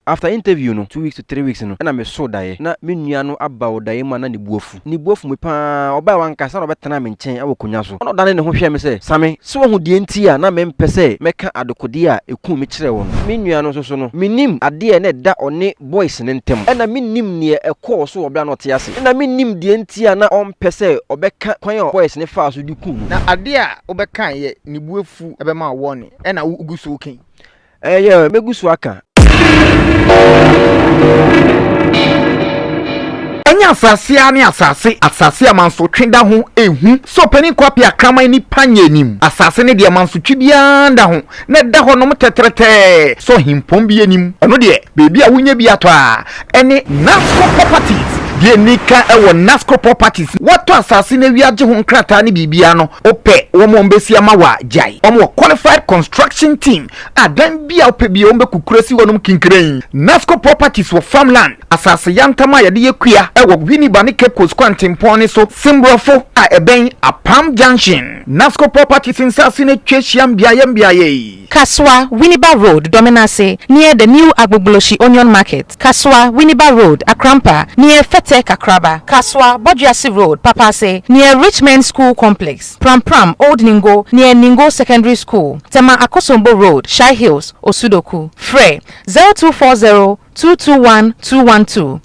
After interview no two weeks to three weeks no ɛna me soo daeɛ na me nua no aba wɔ daeɛ mu a na ne bo afu ne bo afu me paa ɔbaɛ wankasa na ɔbɛtenaa me nkyɛn ɛwɔ konwa so na ɔdane ne ho hwɛɛ me sɛ Same sɛ wahu deɛ nti a na mempɛ sɛ mɛka adekodeɛ a ɛkuu me kyerɛɛ wo no me nua no nso so no mennim adeɛ a na ɛda ɔne boys no ntam ɛna mennim neɛ ɛkɔɔ so wɔ berɛ a na ɔte ase na mennim deɛ nti a na ɔmpɛ sɛ ɔbɛka kwan a boys no faa so de kuu no. Na adeɛ a wobɛkaeɛ ne bo afu bɛma wo wɔne ɛna wo gu so reka yi Ɛyɛ ɛ, mɛgu so aka. Ɛnyɛ asase ara ne asase, asase a mansotwe da ho ehu, sɛ ɔpanin Kwapea akraman ni Panya anim. Asase ne deɛ mansotwe biara nda ho, na ɛda hɔnom tɛtrɛtɛɛ, sɛ ɔhempɔn bi anim. Ɛno deɛ, baabi a wonya bi atɔ a, ne NASCO Properties deɛ ni ka wɔ NASCO Properties no watɔ asase no awia gye ho nkrataa ne biribiara no wopɛ wɔn a wɔbɛsi ama wo a gyae wɔn wɔ qualified construction team a dan bi a wopɛ biara wɔn bɛkukuru asi hɔ nom kinkirein NASCO Properties wɔ farm land asase yantam a yɛde yɛ kua wɔ Winneba ne Cape Coast kwantempɔn no so Semborɔfo a ɛbɛn Apam Junction NASCO Properties nsase no atwa ahyiam beaeɛ mbeaeɛ yi. Kasoa, Winneba Road, Dɔmenase, near the new Agbogblosyi Onion Market, Kasoa, Winneba Road, Akrampa, near Fete Kakraba, Kasoa, Boduase Road, Papaase, near Rich Men's School Complex, Pram Pram, Old Ningo, near Ningo Secondary School, Tema Akosombo Road, Shai Hills, Osudoku. Frɛ, zero two four zero two two one two one two.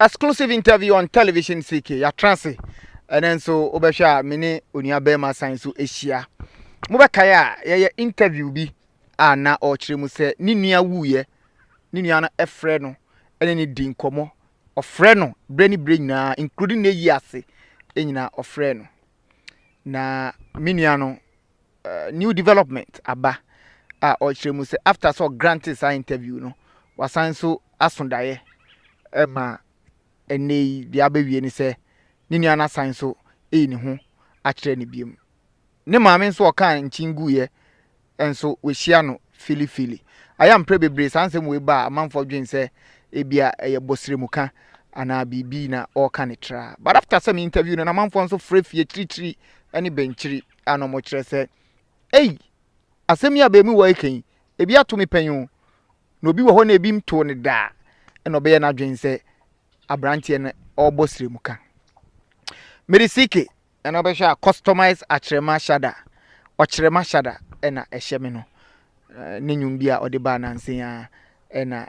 Exclusive interview on television CK yɛatra ase ɛnɛ nso wobɛhwɛ a me ne onua bɛrima san so ahyia mobɛkae a yɛyɛ interview bi a na ɔrekyerɛ mu sɛ ne nua wuiɛ ne nua no ɛfrɛ no ɛne ne di nkɔmmɔ ɔfrɛ no berɛ ne berɛ nyinaa including ne yi ase nyinaa ɔfrɛ no na me nua no new development aba a ɔrekyerɛ mu sɛ after sɛ ɔgrante saa interview no wasan nso aso daeɛ ɛma ɛnɛ yi deɛ abɛwie ne sɛ ne nua no asan nso ɛyi ne ho akyerɛ ne biom ne maame nso ɔka nkyin guiɛ nso wɔhyia no filifili ayɛ mprɛ bebree saa nsɛm wei ba a amanfoɔ dwen sɛ ebia ɛyɛ bɔsire mu ka anaa biribi na ɔreka ne tra but after sɛ me interview no na amanfoɔ nso frɛ fie kyirikyiri ne bɛnkyiri a na wɔkyerɛ sɛ, Ei, asɛm yi a abamuwa reka yi, ebi ato me pɛn o, na obi wɔ hɔ na ebi ntoo no da a, ɛna ɔbɛyɛ n'adwene sɛ aberanteɛ no ɔrebɔ srɛmuka. Merisike ɛna bɛhwɛ a customize akyerɛma shada ɔkyerɛma shada ɛna ɛhyɛ me no ne nnwom bi a ɔde baa nansen a ɛna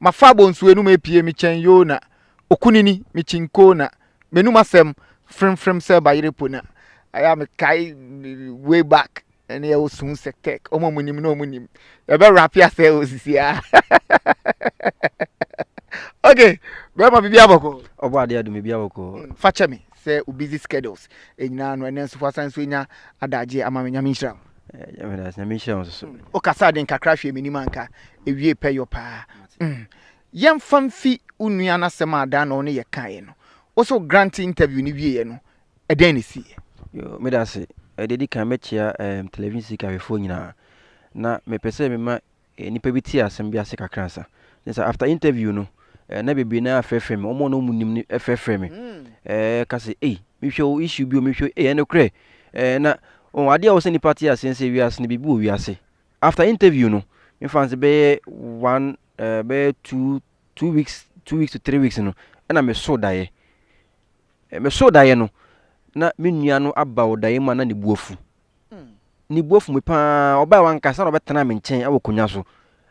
Mafa abonsu enum epue me kyɛn Yona Okunini me kyinkoo na M'enum asɛm fremfrem sɛ bayerɛ po na Ayɛ a mekae way back ɛne ɛwo sun sɛ tɛk Ɔmo a ɔmo nim na ɔmo nim Yɛbɛ rape asɛ o sisi a Ok bɛɛma bibi abɔkɔɔ Ɔbɔ adeɛ adum bibi abɔkɔɔ. Fakyɛ me sɛ wo busy schedules nyinaa no ɛnɛ nso woasan nso anya adagyeɛ ama me Nyame nhyira wo. O kasaa den kakra hwɛɛ m'anim anka ewiee pɛ yɔ paa mm Yɛmfa mfi wo nua no asɛm a Adaa na wo ne yɛ kaeɛ no Wo se wo Grant interview no wieeɛ no ɛdɛn na ɛsiiɛ? Yoo meda ase. Deɛ ɛdi kan mɛkyea ɛɛm television sika hwɛfoɔ nyinaa na mepɛ sɛ mema eh, nipa bi te asɛm bi ase kakra sa ne sa after interview no eh, na bebree na afrɛfrɛ me ɔmo na ɔmo nim no ɛfrɛfrɛ me mm. eh, ka sɛ ei mehwɛ o issue bi o mehwɛ ei ɛno korɛ eh, na oh, adeɛ a wɔ sɛ nipa te aseɛ sɛ wiase no biribi wɔ wiase after interview no mefa no sɛ bɛyɛ one eh, bɛyɛ two two weeks two weeks to three weeks no ɛna meso daeɛ eh, meso daeɛ no na me nua no aba ɔdaeɛ mu a na ne bu afu ne bo afu me pa ara. Ɔbae wankasa na ɔbɛtenaa me nkyɛn wɔ akonnwa so.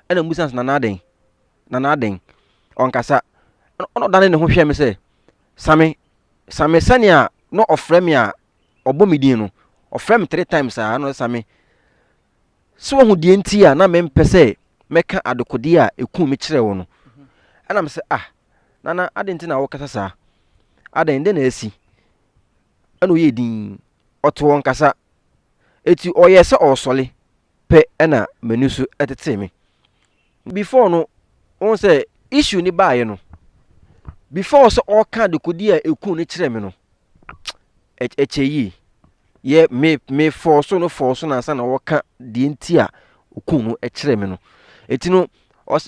Ɛna mebisa sɛ, Nana adɛn? Nana adɛn? Ɔnkasa. Ɛna ɔdanee ne ho hwɛɛ me sɛ, Same, Same sɛnea na ɔfrɛ me a ɔbɔ me din no. Ɔfrɛɛ me three times saa, ɛna ɔsɛ Same. Sɛ wahu deɛ nti a na mempɛ sɛ mɛka adekodeɛ a ɛkuu me kyerɛ wo no. Ɛna me sɛ, Ah, Nana adɛn nti na wokasa saa? Adɛn, dɛn na asi? na ɔyɛɛ dinn, ɔte wɔn kasa. Enti ɔyɛɛ sɛ ɔresɔre pɛ na m'ani so tetee me. Before no, wohu sɛ issue no baeɛ no, before sɛ ɔreka adekodeɛ a ɛkuu no kyerɛ me no, ɛkyɛ yie. Yɛ me me fɔɔ so no fɔɔ so no ansa na ɔreka deɛ nti a ɔkuu no kyerɛ me no. Enti no,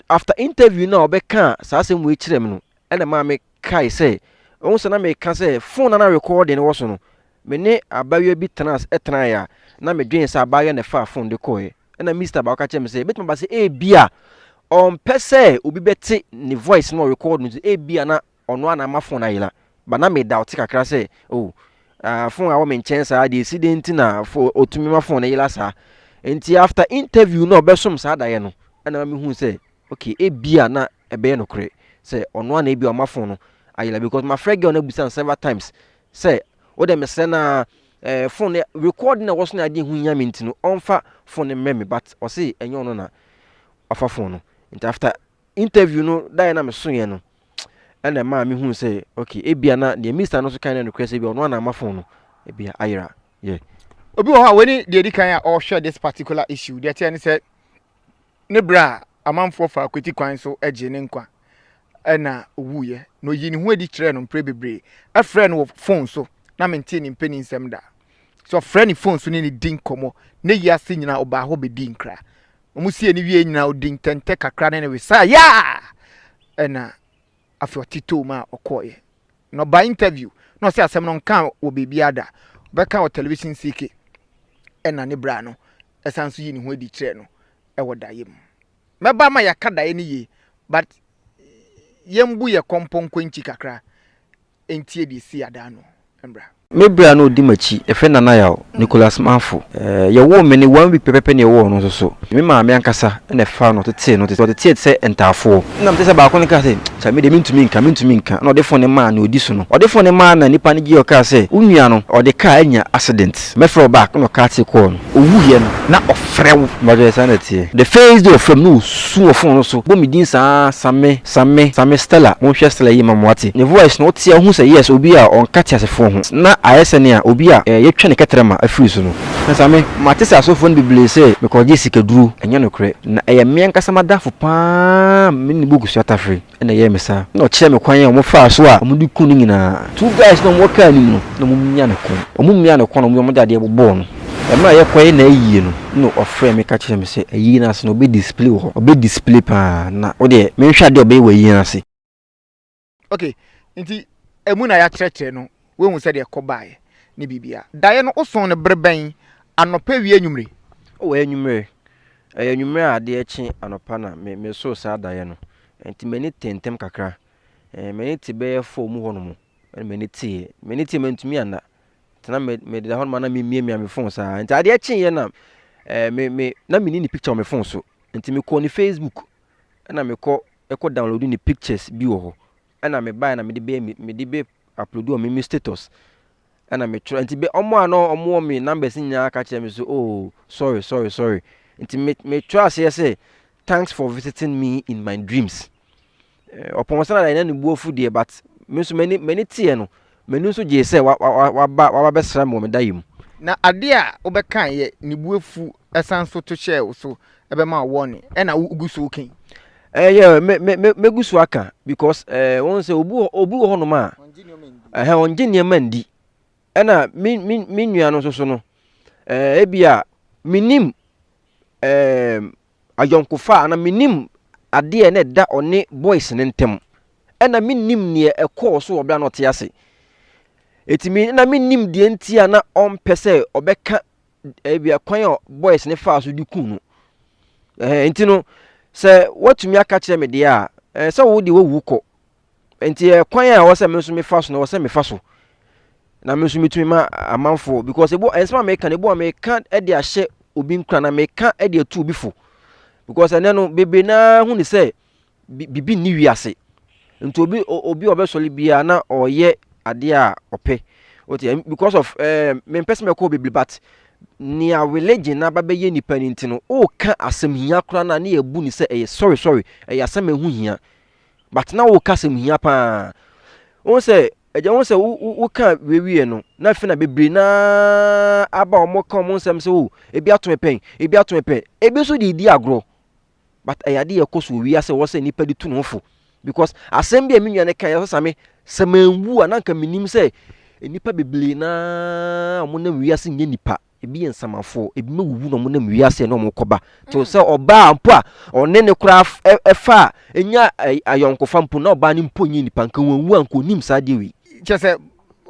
after interview no a ɔbɛkaa saa asɛm wei kyerɛ me no, ɛna maa me kae sɛ, Woahu sɛ na meka sɛ fon no na rekɔɔ de no wɔ so no? Me ne abaayewa bi tenas tenae a na medwen sɛ abaayewa na ɛfaa fon de kɔe. Ɛnna Mister baako ka kyerɛɛ me sɛ, Ebetumi aba sɛ ebia ɔmpɛ sɛ obi bɛte ne voice na ɔrekɔɔ no nti ebia na ɔno ara na ama fon no ayera. But na me doubt kakra sɛ, Oh, ah, fon a wɔ me nkyɛn saa deɛ esi dɛn nti na fo otumi ma fon no yera saa? Nti after interview no a ɔbɛsom saa daeɛ no, ɛnna ma mehuu sɛ, Ok ebia na ɛbɛyɛ nokorɛ sɛ ɔno ara na ebia ɔma phone no ayɛ la because mafrɛ girl no abusa no several times sɛ wodɛ mesrɛ no ara eh, phone no record na ɛwɔ so na adeɛ ho hia me nti no ɔmfa phone no mmrɛ me but ɔse ɛnyɛ ɔno na wafa phone no nti after interview no daeɛ na mesoeɛ no ɛna ɛmaa mehu sɛ ok ebia na deɛ mista no so kan na nokorɛ sɛ ebia ɔno ara na ama phone no ebia ayera yeah. obi wɔ hɔ a wei ne deɛ ɛdi kan a ɔrehwɛ this particular issue deɛ ɛteɛ ne sɛ ne berɛ a amanfoɔ faa kwati kwan so gyee ne nkwa na ɔwuiɛ, na ɔyii ne ho adi kyerɛɛ no mprɛ bebree. Ɛfrɛɛ no wɔ fon so, na mentee ne mpanin nsɛm da. Sɛ ɔfrɛ ne fon so ne no di nkɔmmɔ, na ɛyi ase nyinaa ɔbaa hɔ bɛdii nkra. Wɔsiee no wieeɛ nyinaa ɔdii ntɛntɛ kakra ne no wesaeɛ a ɛna Afei ɔtetewm a ɔkɔeɛ. Na ɔbaa interview na ɔsɛ asɛm no nkaa wɔ baabiara da. Ɔbɛka wɔ television CK ɛna ne bra no ɛsan nso yi ne ho adi kyerɛɛ no ɛwɔ daeɛ mu. Mɛba ama yɛaka daeɛ no yie but yɛmbu yɛ kɔmpɔnkɔ nkyi kakra ntie deɛ ɛsii adaa no mmra. Me bra no ɔdi m'akyi, yɛfrɛ no Nana Yaw, Nicholas Manfo. Yɛwoo me no, one week pɛpɛpɛ na yɛwoo ɔno nso so. Me maame ankasa na ɛfaa no tetee no, ɔteteeɛ te sɛ ntaafoɔ. Ɛna mete sɛ baako no kaa sɛ, Kyɛ me deɛ mentumi nka, mentumi nka. Ɛna ɔde fone maa nea ɔdi so no. Ɔde fone maa na nipa no gyeeɛ, ɔkaa sɛ, Wo nua no, ɔde kaa anya accident. Mɛfrɛ wo back. Ɛna ɔcarte kɔɔ no. Ɔwuiɛ no, na ɔfrɛ wo. Mpakyɛ saa na ɛteɛ. The first day ɔfrɛ me no ɔsu wɔ fone no so, bɔ me din saa, Same, Sa me, sa me Stella, monhwɛ Stella yie ma moate ne voice no wote a wohu sɛ yes obi a ɔnka teasefoɔ ho na ayɛ sɛ nea obi a eh yɛtwa ne kɛtrɛma afiri so no. Na sa me, mate sɛ asɔfoɔ no bebree sɛ mekɔgye sikaduro, ɛnyɛ nokorɛ na ɛyɛ me ankasa m'adamfo pa ara a me ne book sua tafere na ɛyɛɛ me saa na ɔkyerɛɛ me kwan a wɔfaa so a wɔde kuu no nyinaa. Two guys no a wɔwɔ car no mu no na wɔmia ne kɔn, wɔmia ne kɔn na wɔde adeɛ bobɔɔ no. Mmerɛ a yɛkɔyɛ n'ayie no na ɔfrɛɛ me ka kyerɛɛ me sɛ ayie no ase no ɔbɛ display wɔ hɔ ɔbɛ display paa na wodeɛ menhwɛ adeɛ a ɔbɛyɛ wɔ ayie no ase. Okay nti ɛmu na yɛakyerɛkyerɛ no woahu sɛdeɛ ɛkɔ baeɛ ne biribiara. Daeɛ no wosoo no bere bɛn, anɔpa, awia, anwummere? Oh ɛyɛ anwummere, ɛyɛ anwummere a adeɛ rekye anɔpa na me mesoo saa daeɛ no nti m'ani tee ntɛm kakra, eh m'ani te bɛyɛ four mu hɔ nom ɛna m'ani teeɛ, m'ani teeɛ mantumi anna. tena me me da hɔ ma na memiamia me phone saa nti adeɛ kyeeɛ na ɛɛ me me na meni ne picture wɔ me phone so nti mekɔ ne facebook ɛna mekɔ ɛkɔ download ne pictures bi wɔ hɔ ɛna mebaeɛ na mede bɛyɛ mede bɛ upload wɔ me me status ɛna metwerɛ nti bɛ ɔmo a na ɔmo wɔ me numbers nyinaa ka kyerɛ me so oh sorry sorry sorry nti me metwerɛ aseɛ sɛ thanks for visiting me in my dreams Eh, ɔpɔn sɛ na dae na ne bu afu deɛ but me nso m'ani m'ani teɛ no m'ani nso gyee sɛ wa- wa- wa- waba waba bɛsra me wɔ me daeɛ mu Na adeɛ a wobɛkaeɛ ne bu afu san so to hyɛɛ wo so bɛma wo wɔne ɛna wogu so woka yi. Eh, yeah, me me me mɛgu so aka because eh, wɔn sɛ obi wɔ obi wɔ hɔnom a ɛhɛn ɔngye nneɛma ndi ɛna me me me nua no nso so no eh, ebi a menim eh, ayɔnkofa anaa mennim adeɛ na ɛda ɔne boys no ntam. Ɛna mennim neɛ ɛkɔɔ so wɔ berɛ a na ɔte ase. Ɛti me na mennim deɛ nti a na ɔmpɛ sɛ ɔbɛka ebi kwan a boys no faa so de kuu no. Ɛhɛn nti no sɛ woatumi aka kyerɛ me deɛ a ɛɛ sɛ wo deɛ wawu kɔ Nti ɛkwan a ɛwɔ sɛ me nso mefa so no ɛwɔ sɛ mefa so na me nso metumi ma amanfoɔ because ebu nsɛm a meka no ebu a meka de ahyɛ obi nkura na meka de atu obi fo because ɛnɛ no bebree naa hu ne sɛ bibi nni wiase nti obi obi a ɔbɛsɔre biara na ɔyɛ adeɛ a ɔpɛ okay because of ɛɛ eh, mempɛ sɛ mɛkɔ bebree but nea religion na abɛyɛ nipa no nti no ɔreka asɛm hia koraa na ne yɛ bu ne sɛ ɛyɛ sorry sorry ɛyɛ asɛm a ɛho hia but na wo kasa mu hia paa wohu sɛ agya wohu sɛ wo ka wiewie no na afei na bebree na aba wɔn ka wɔn nsɛm sɛ o ebi ato me pɛn ebi ato me pɛn ebi nso de di agorɔ but ɛyɛ ade yɛ kɔ so wɔ wiase wɔ sɛ nipa de tu ne ho fo because asɛm bi a me nua no kan yɛ sɛ same sɛ manwu a na nka menim sɛ nnipa bebree na wɔnam wiase nyɛ nnipa Ebi yɛ nsamafoɔ, ebi mo wuwu na ɔmo nam wiase na ɔmo kɔba. Te sɛ ɔbaa mpo a ɔne ne koraa ɛfa a enya ayɔnkofa mpo na ɔbaa no mpo nyɛ nipa nka wanwu a nka onim saa adeɛ wei. Kyerɛ sɛ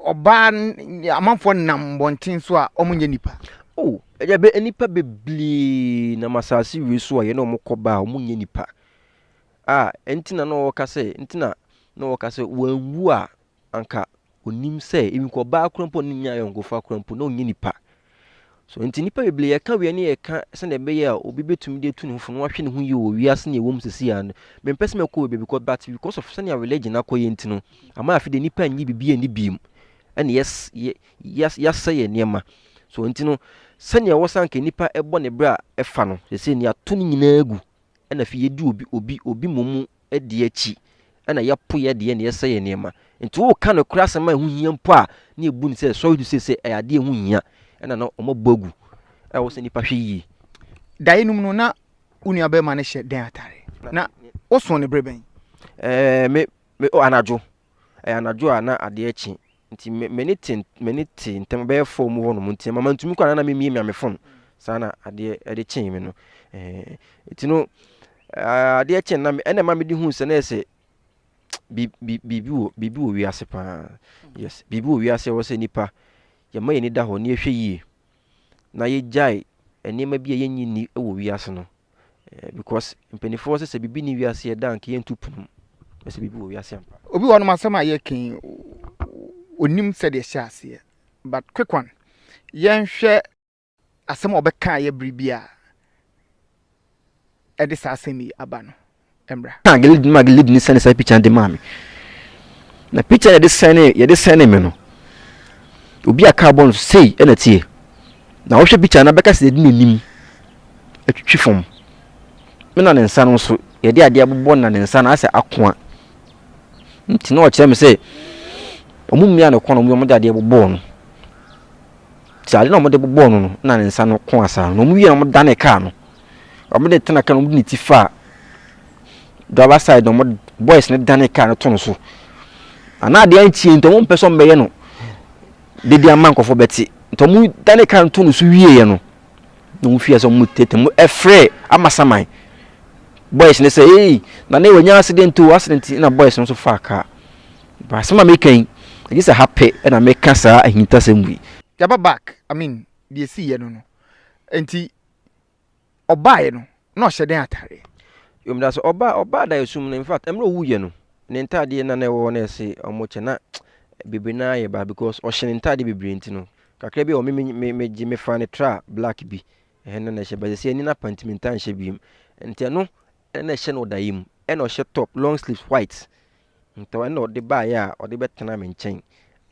ɔbaa amanfoɔ nam mmɔnten so a ɔmo nyɛ nipa. Oh ɛdɛbɛ nnipa bebree nam asaase wei so a yɛne ɔmo kɔba a ɔmo nyɛ nipa a ɛnti na na ɔɔka sɛ ɛnti na na ɔɔka sɛ wanwu a anka onim sɛ even kɔ ɔbaa kora mpo ne nyɛ ayɔnkofa kora mpo na ɔnyɛ nipa so nti nipa bebree yɛka wia ne yɛka sɛdeɛ ɛbɛyɛ a obi bɛtumi de atu ne fofo na wahwɛ ne ho yie wɔ wiase ne ɛwɔ mu sɛsi a no mempɛ sɛ mɛkɔ baabi kɔ but because of sɛnea religion akɔyɛ nti no ama afei de nipa nyi biribi ani biem ɛne yɛs yɛs yɛasɛ yɛ nneɛma so nti no sɛnea ɛwɔ sanka nipa ɛbɔ ne berɛ a ɛfa no sɛsɛ ni ato ne nyinaa gu ɛna afei yɛdi obi obi obi mmom di akyi na yɛpo yɛn deɛ na yɛsɛ yɛn nneɛma. Nti woka nokorɛ asɛm a ɛho hia mpo a na yɛbu no sɛ sɔre du seesei ɛyɛ adeɛ ɛho hia ɛna no wɔn abu agu ɛwɔ sɛ nipa hwɛ yie. Daeɛ no mu no na wo nua barima no hyɛ dɛn atare na wosoo no bere bɛn? Ɛɛ me me oh anadwo ɛyɛ anadwo a na adeɛ kye Nti me m'ani te m'ani te ntɛm bɛyɛ four mu hɔnom nti mama ntumi kɔ na memie mia me fon saa na adeɛ ɛde kyee me no ɛɛ nti no adeɛ kyee na ɛna ɛma mede hu sɛ na ɛsɛ biribi wɔ biribi wɔ wiase paa yes biribi wɔ wiase ɛwɔ sɛ nipa yɛma yɛn ani da hɔ na yɛhwɛ yie na yɛgyae nneɛma bi a yɛnyi ni wɔ wiase no eh, because mpanimfoɔ sɛ sɛ biribi ne wiase ɛda nka yɛntu pono mu na sɛ biribi wɔ wiase ampa obi wɔ nom asɛm a yɛken onim sɛdeɛ ɛhyɛ aseɛ but quick one yɛnhwɛ asɛm a ɔbɛka yɛ bere bi a ɛde saa asɛm yi aba no mmra. Na Gilead ma Gileadni sɛne saa pikya de maa me. Na pikya yɛde sɛne yɛde sɛne me no, obi a kaa bɔ no sei na tie. Na wohwɛ pikya no bɛka sɛ yɛde n'anim atwitwi fam. Me na ne nsa no nso yɛde adeɛ abobɔ na ne nsa no asɛ akoa. Nti na ɔkyerɛ me sɛ ɔmo mmea no kɔn ɔmo de adeɛ bobɔɔ no. Sɛ ade na ɔmo de bobɔɔ no no na ne nsa no ko asaa no ɔmo wie na ɔmo dane kaa no. Ɔmo de tena kan ɔmo de ne ti faa driver side na ɔmo boys ne dane kaa no to no so anaa adeɛ antie nti ɔmo mpɛ sɛ ɔmo bɛyɛ no dede ama nkɔfo bɛte nti ɔmo dane kaa no to no so wieɛ no na ɔmo fie sɛ ɔmo tete mo ɛfrɛ ama saman boys ne sɛ ee na ne wɔnya accident o accident na boys no nso faa kaa baasɛm a meka yi ɛgye sɛ ha pɛ na meka saa ahintasɛm wei yaba back i mean deɛ ɛsiiɛ no no nti ɔbaeɛ no, na ɔhyɛ dɛn atadeɛ? Yom da so ɔbaa ɔbaa da esum no infact ɛmrɛ owu yɛ no ne ntaadeɛ na na ɛwɔ hɔ na ɛse ɔmo kyɛ na bebre naa yɛ baa because ɔhyɛ ne ntaadeɛ bebre nti no kakra bi wɔ me me me gye me faa ne tra black bi ɛhɛ na na ɛhyɛ baa sɛ ɛni na panti me ntaa nhyɛ bi mu nti ɛno ɛna ɛhyɛ no ɔda yɛ mu ɛna ɔhyɛ top long sleeves white Ntɛm ara na ɔde baeɛ a ɔde bɛtenaa me nkyɛn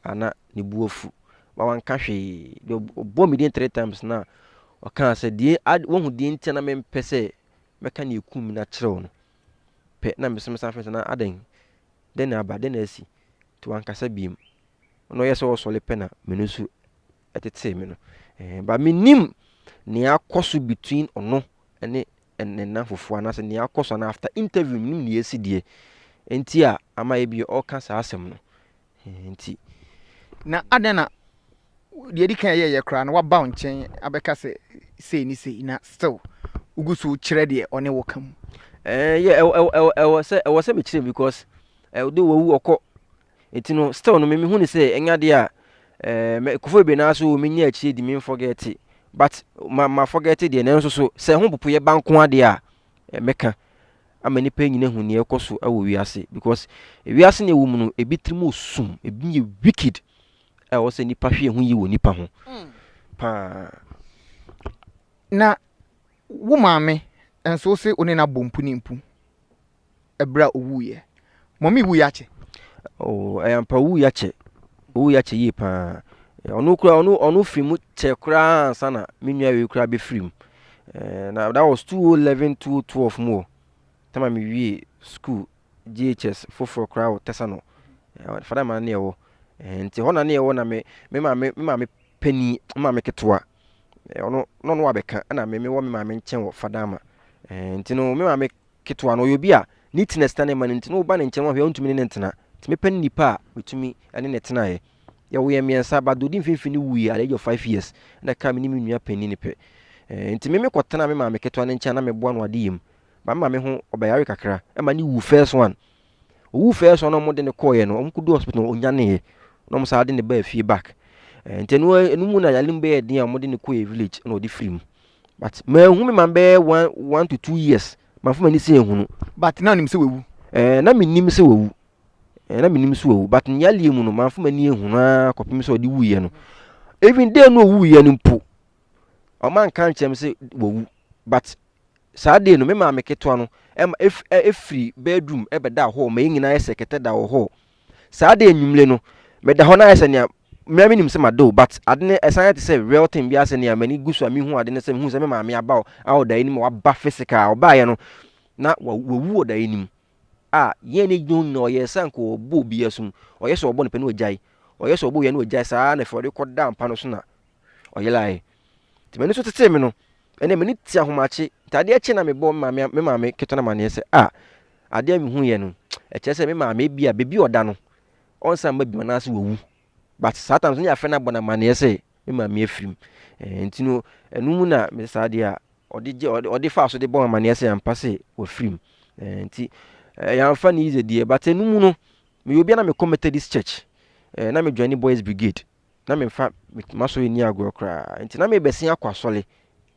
a na ne bo afu ma wanka hwee. Deɛ ɔbɔɔ me din three times no a, ɔkaa sɛ, deɛ ad, woahu deɛ nti a na mempɛ sɛ mɛka deɛ ɛkum me no akyerɛ wo no. Pɛ na meso mesan frɛ sɛ, na adɛn? Dɛn na aba? Dɛn na asi? Nti wankasa biom. Ɔno ɔyɛ sɛ ɔresɔre pɛ na m'ani so ɛtetee me no. Ɛɛn but me nim nea akɔ so between ɔno ɛne ɛnɛna fufuo anaasɛ nea akɔ so anaa after interview me nim nea esi deɛ ɛnti a ama yɛ bi ɔka saa asɛm no. Ɛɛn nti. Na adɛn na deɛ ɛdi kan yɛ yɛ koraa no waba wo nkyɛn abɛka sɛ sei ne sei na still wogu so kyerɛ deɛ ɔne wo ka mu. Ɛɛn yɛ ɛwɔ ɛwɔ ɛwɔ ɛwɔ sɛ ɛwɔ sɛ me kyerɛ mu because ɛwɔ do wɔwu ɔkɔ Enti no, still no, me me hu ne sɛ, ɛnyɛ adeɛ a, eh, me, kofo bebree naa so, me nya akyire di, me nfɔgɛte, but, ma, ma fɔgɛte deɛ, nanso so, sɛ ɛho popoyɛ ba nko adeɛ a, eh, me ka, ama nipa nyina ahu neɛ ɛkɔ so ɛwɔ wiase, because, ewiase neɛ ɛwɔ mu no, ebi tiri mu sum, ebi yɛ wicked, a ɛwɔ sɛ nipa hwɛ ɛho yie wɔ nipa ho, paa. Na, wo maame, nso wo se wo ne no abɔ mpu ne mpu, ɛberɛ a ɔwuiɛ. Mɔmi wuiɛ akyɛ? Oh, ɛyɛ ampa ɔwuiɛ akyɛ. Ɔwuiɛ akyɛ yie paa. Ɔno kura ɔno ɔno firi mu kyɛ koraa ansa na me nua wei koraa bɛfiri mu. Eh, na that was 2011 2012 mu o. Tama me wie school GHS foforɔ koraa wɔ tɛsa no. Eh, fada ma ne ɛwɔ. Eh, nti hɔ na ne ɛwɔ na me me ma me me ma me panin me ma me ketewa. Eh, ɔno na ɔno wabɛka ɛna me me wɔ me ma me nkyɛn wɔ fada ma. Eh, nti no me ma me ketewa no, ɔyɛ obi a ne ti na ɛsena ne ma no nti na woba ne nkyɛn no wahwɛ a wontumi ne no ntena. Nti mepɛ ne nipa a metumi ne no tenaeɛ. Yɛwoo yɛn mmiɛnsa but deɛ ɔdi mfimfini no wuiɛ at the age of five years ɛna ɛkaa me ne me nua panin no pɛ. Eh, nti me mekɔtenaa me maame ketewa no nkyɛn a na meboa no adeyɛ mu. But me maame ho ɔbɛyare kakra ɛma ne wu first one. Owu first one na wɔde no kɔɔeɛ no, wɔn kɔdu hospital no ɔnyaneeɛ na wɔn saa de no baa fie back. Eh, nti ɛno ɛno mu na yare no bɛyɛ den a wɔde no kɔɔeɛ village na ɔde firi mu. But manhu me man bɛyɛ one one to two years manfa m'ani sɛ ehunu. But na nim sɛ wawu? Eh, na menim sɛ wawu. Eh, na menim sɛ wawu but ne yareɛ mu no manfa m'ani ehunu ara kɔpem sɛ ɔde wuiɛ no. Even day no ɔwuiɛ no mpo Wɔn anka ankyerɛ me sɛ wawu but saa day no me maame ketewa no ɛma ef ɛ efiri bedroom ɛbɛda hɔ ma yɛn nyinaa ayɛ sɛ kɛtɛ da wɔ hɔ. Saa day enyimire no meda hɔ na ayɛ sɛ nea mmea me nim sɛ ma do but ade no ɛsan yɛ te sɛ real thing bi asɛ nea m'ani gu so a me hu ade no sɛ me hu sɛ me maame aba o a ɔda anim a waba physical a ɔbaayɛ no na wa wawu ɔda anim a yɛn ne gyina hɔ nyinaa ɔyɛ sɛ anka ɔbɔ obi asum ɔyɛ sɛ ɔbɔ ne pɛ na ɔgyae ɔyɛ sɛ ɔbɔ wia na ɔgyae saa na fɛ ɔde kɔ da mpa no so na Ɔyerae. Nti m'ani so tetee me no, ɛnna m'ani te ahomakye. Nti adeɛ kye na mebɔɔ me maame me maame ketewa no amaneɛ sɛ, Ah, adeɛ a mehuiɛ no, ɛkyerɛ sɛ me maame ebia baabi a ɔda no, ɔnsan mma bio anaasɛ wawu. But saa times no ne yɛafrɛ no abɔ no amaneɛ sɛ me maame afirim. Ɛɛ nti no, ɛno mu na me saa adeɛ a ɔde gye ɔde ɔde faa so de bɔ me amaneɛ sɛ ampa sɛ wafirim. Ɛɛ nti ɛɛ yɛamfa no easy deɛ, but ɛno mu no, meyɛ obi a na mekɔ Methodist Church. Ɛɛ na me join Boys Brigade. na memfa m'asɔre nni agorɔ koraa. Nti na merebɛsen akɔ asɔre.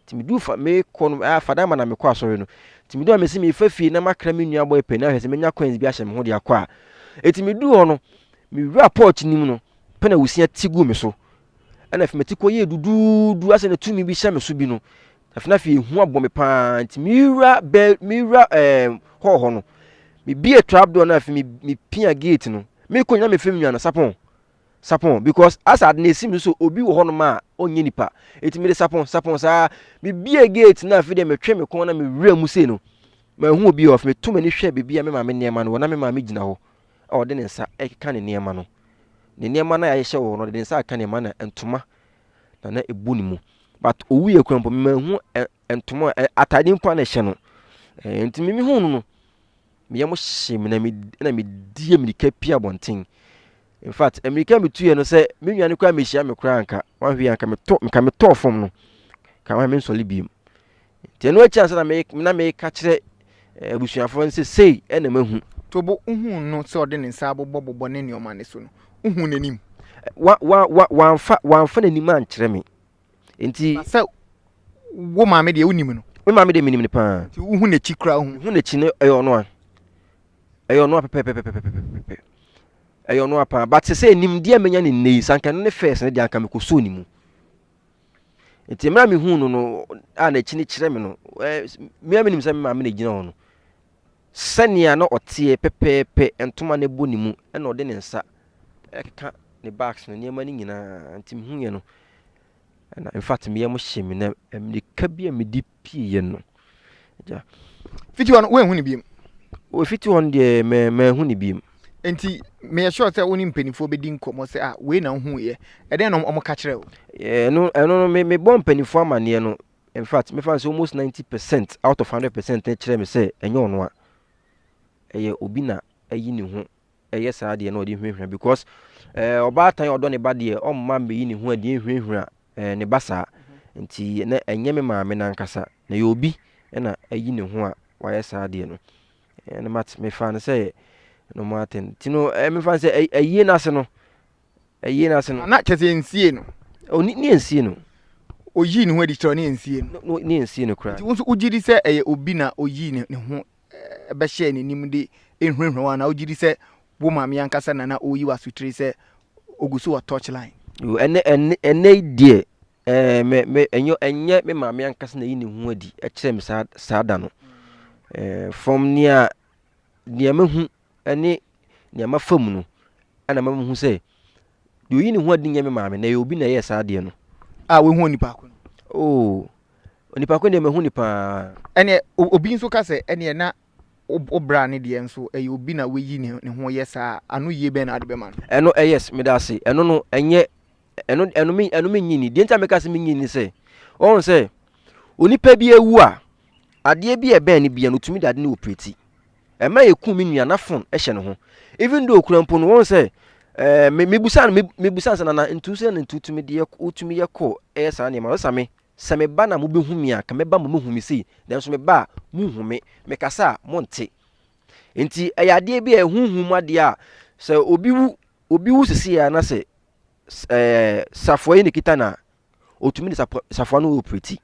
Nti meduu fa mekɔ no ah fada ma na mekɔ asɔre no. Nti meduu a mesi merefa fie na makra me nua bɔ epɛ na ahwɛ sɛ menya coins bi ahyɛ me ho de akɔ a. Nti meduu hɔ no mewura porch no mu no pɛ na wusia ti gu me so. Ɛna afei meti kɔ yɛ duduudu asɛ na tumi bi hyɛ me so bi no. Afei na afei ehu abɔ me paa nti mewura bɛ mewura ɛɛ eh, hɔ hɔ no. Mebie trap door no afei mepia gate no. Mekɔ nyina mefam nua no sapɔn. sapɔn because as ade no esim no so obi wɔ hɔnom a ɔnyɛ nipa eti mede sapɔn sapɔn saa mebie gate na afei deɛ metwe me kɔn na mewura mu sei no mahu obi a ɔfɛ metu m'ani hwɛ baabi a me maame nneɛma no wɔ na me maame gyina hɔ a ɔde ne nsa ɛkeka ne nneɛma no ne nneɛma no a yɛahyehyɛ wɔ hɔ no ɔde ne nsa aka nneɛma na ntoma na na ebu ne mu but owu yɛ kura mpo memahu ntoma atade mpo a na ɛhyɛ no nti mimi hu no no me yam hyee me na me na me di mirika pia abɔnten in fact mirika me tuiɛ no sɛ me nua no koraa mehyia me koraa nka wahwe anka me tɔ nka me tɔɔ fam no ka wahwe me nsɔle biem nti ɛno akyi ansa na me na me ka kyerɛ eh, abusuafoɔ no sɛ sei ɛna mahu tobo wohu no sɛ ɔde ne nsa abobɔbobɔ ne nneɛma no so no wohu n'anim wa wa wa wamfa wamfa n'anim ankyerɛ me Nti. Na sɛ wo maame deɛ wonim no. Me maame deɛ menim no paa. Nti wohu n'akyi koraa wohu. Mehu n'akyi no ɛyɛ ɔno a. Ɛyɛ ɔno a pɛpɛpɛpɛpɛpɛpɛ. Ɛyɛ ɔno a paa but sɛ nimdeɛ a menya ne nnɛ yi sɛ anka ɛno ne first no deɛ anka mekɔsoo ne mu. Nti mmerɛ a mehu no no a n'akyi no kyerɛ me no ɛɛ mea menim sɛ me maame na ɛgyina hɔ no Sɛnea na ɔteɛ pɛpɛɛpɛ, ntoma no bɔ ne mu, ɛnna ɔde ne nsa keka ne bags no nneɛma no nyinaa, nti mehuiɛ no, ɛnna in fact me yam hyee me na mmirika bi a mede pieeɛ no, agya. Fiti hɔ no, woanhu no biom? O, fiti hɔ no deɛ, ma, manhu no biom. Nti meyɛ sure sɛ wo ne mpanimfoɔ bɛdi nkɔmmɔ sɛ, ah, wei na wohuiɛ. Ɛdɛn na wɔka kyerɛɛ wo? Ɛno, ɛno no, me, mebɔɔ mpanimfoɔ amanneɛ no, In fact, mɛfa no sɛ almost ninety percent out of hundred percent no kyerɛ me sɛ ɛnyɛ ɔno a ɛyɛ obi na ayi ne ho ɛyɛ saa deɛ na ɔde hwehwɛ because ɛɛ ɔbaatan a ɔdɔ ne ba deɛ ɔmma mbɛyi ne ho adeɛ nhwehwɛ ɛɛ ne ba saa nti na ɛnyɛ me maame nankasa na yɛ obi na ayi ne ho a wayɛ saa deɛ no ɛna mat mefa no sɛ normal thing ti no ɛɛ mefa no sɛ ayie n'ase no Ɛyie no ase no. Ana kyerɛ sɛ ɛnsie no. O ne ne ɛnsie no. Ɔyii ne ho adi kyerɛ ne ɛnsie no. No ne ɛnsie no koraa. Nti wo nso wogye di sɛ ɛyɛ obi na ɔyii ne ne ho bɛhyɛɛ n'anim de ɛhurahura wo anaa wogye di sɛ wo maame ankasa na na ɔreyi wo asotire sɛ ɔgu so wɔ touch line? O ɛnɛ ɛnɛ ɛnɛ yi deɛ ɛɛ me me ɛnyɛ ɛnyɛ me maame ankasa na ɛyi ne ho adi kyerɛ me saa saa da no. Ɛɛ from nea nea mahu ne nea mafa mu no na ama mahu sɛ deɛ ɔyi ne ho adi nyɛ me maame na ɛyɛ obi na ɛyɛɛ saa adeɛ no. A wahu onipa ko no. Oo, onipa ko deɛ mahu ne paa. Ɛneɛ obi nso ka sɛ ɛneɛ na wo bra ne deɛ nso ɛyɛ obi na wayi ne ho yɛ saa a, ano yie bɛn na wode bɛma no? Ɛno ɛ yes, meda ase. Ɛno no ɛnyɛ ɛno ɛno me ɛno menyi ni. Deɛ nti a meka sɛ menyi ni sɛ wɔn sɛ onipa bi awu a adeɛ bi a ɛbɛn no bia no otumi de ade no operate. Ɛma yɛ ku me nua na fon ɛhyɛ ne ho even though okura mpo no wɔn sɛ ɛɛ me mebusa no mebusa sɛ nana ntu sɛ na ntu tumi deɛ wotumi yɛ kɔ ɛyɛ saa nneɛma ɔsɛ me sɛ me ba na mo bɛ hu me a ka me ba mo mo hu me sei nanso me ba a mo nhu me me kasa a mo nte nti ɛyɛ adeɛ bi a ɛhuhu mu adeɛ a sɛ obi wu obi wu sisi a na sɛ ɛɛ safoa yi na kita na otumi ne safoa safoa no operate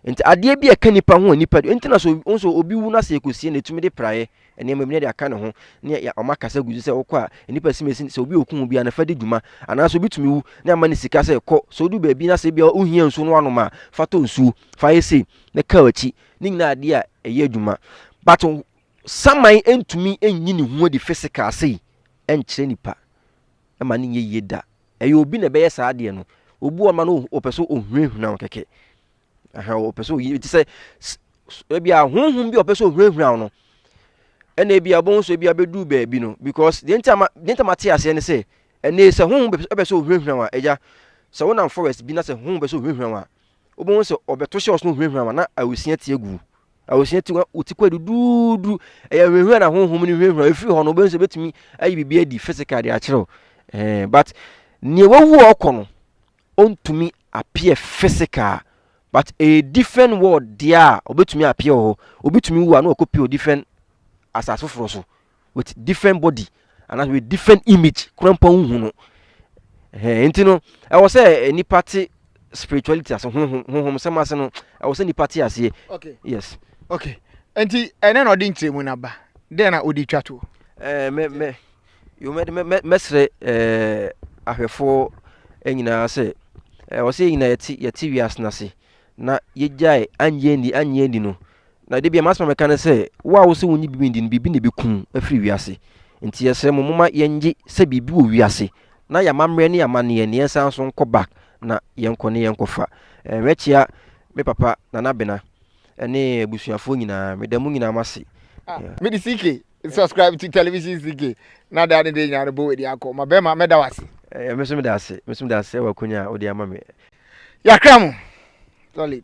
nti adeɛ bi a ɛka nipa ho a nipa nti na so nso obi wu na se ekosie na etumi de praeɛ nneɛma bi na de aka ne ho ne ɔma kasa gu so sɛ ɔkɔ a nipa si mesi sɛ obi okun bi a na fa di dwuma anaasɛ obi tumi wu na ama ne sika sɛ kɔ sɛ odu baabi na sɛ bi a ohia nsuo no anom a fa tɔ nsuo fa yɛ sei na kaa akyi ne nyinaa adeɛ a ɛyɛ adwuma but saman ntumi nyi ne ho adi physical sei ɛnkyerɛ nipa. ɛma no nyɛ yie da. Ɛyɛ obi na ɛbɛyɛ saa adeɛ no. Obi wɔ ma no ɔpɛ sɛ ɔhunahuna wo kɛkɛ. Aha, ɔpɛ sɛ ɔyi, te sɛ ebi a honhom bi a ɔpɛ sɛ ɔhunahuna wo no. Ɛna ebi a ɔbɛhu sɛ ebi abɛduru baabi no because deɛ nti a ma deɛ nti a ma te aseɛ ne sɛ ɛnna sɛ honhom bɛ bɛ sɛ ɔhunahuna wo a ɛgya sɛ wonam forest bi na sɛ honhom bɛ sɛ ɔhunahuna wo a wobɛhu sɛ ɔbɛto hyɛ ɔsono hunahuna ma na awesia ti agu awesia ti wo ti kɔ duduudu ɛyɛ hunahuna na honhom no hunahuna ɛfiri hɔ no wobɛhu sɛ bɛtumi ayi biribi adi physical de akyerɛ wo eh, but neɛ wawu a ɔkɔ no ɔntumi appear physical but a different world deɛ a ɔbɛtumi appear wɔ hɔ obi tumi wu a na ɔkɔ pio different asase foforɔ so with different body anaasɛ with different image kora mpo wohu no nti no ɛwɔ sɛ nipa te spirituality ase honhom sɛm ase no ɛwɔ sɛ nipa te aseɛ yes okay nti ɛnɛ na ɔde nkyerɛmu no aba dɛn na ɔde twa toɔ mɛsrɛ ahwɛfoɔ nyinaa sɛ ɛwɔ sɛ yɛnyina yɛte wiase no ase na yɛgyae anyɛ ni anyɛ ni no Na da biara m'asɛm a mɛka ne sɛ, wo a wose wonnye biribi nni no, biribi na ebekum wo afiri wiase. Enti yɛsrɛ mo, momma yɛnnye sɛ biribi wɔ wiase, na yɛn amammerɛ ne yɛn amanneɛ no, yɛnsan nso nkɔ back na yɛnkɔ na yɛnkɔfa. Eh, mɛkyea me papa, Nana Bena, ne abusuafoɔ nyinaa. Meda mo nyinaa mo ase. Ah, yeah. Me de CK, subscribe to television CK, na da ne de nyinaa no bɔ w'adi akɔ. Ma bɛrima, mɛda w'ase. Eh, me nso meda ase, me nso meda ase wɔ akonya a wode ama me. Yɛakra mo, solid.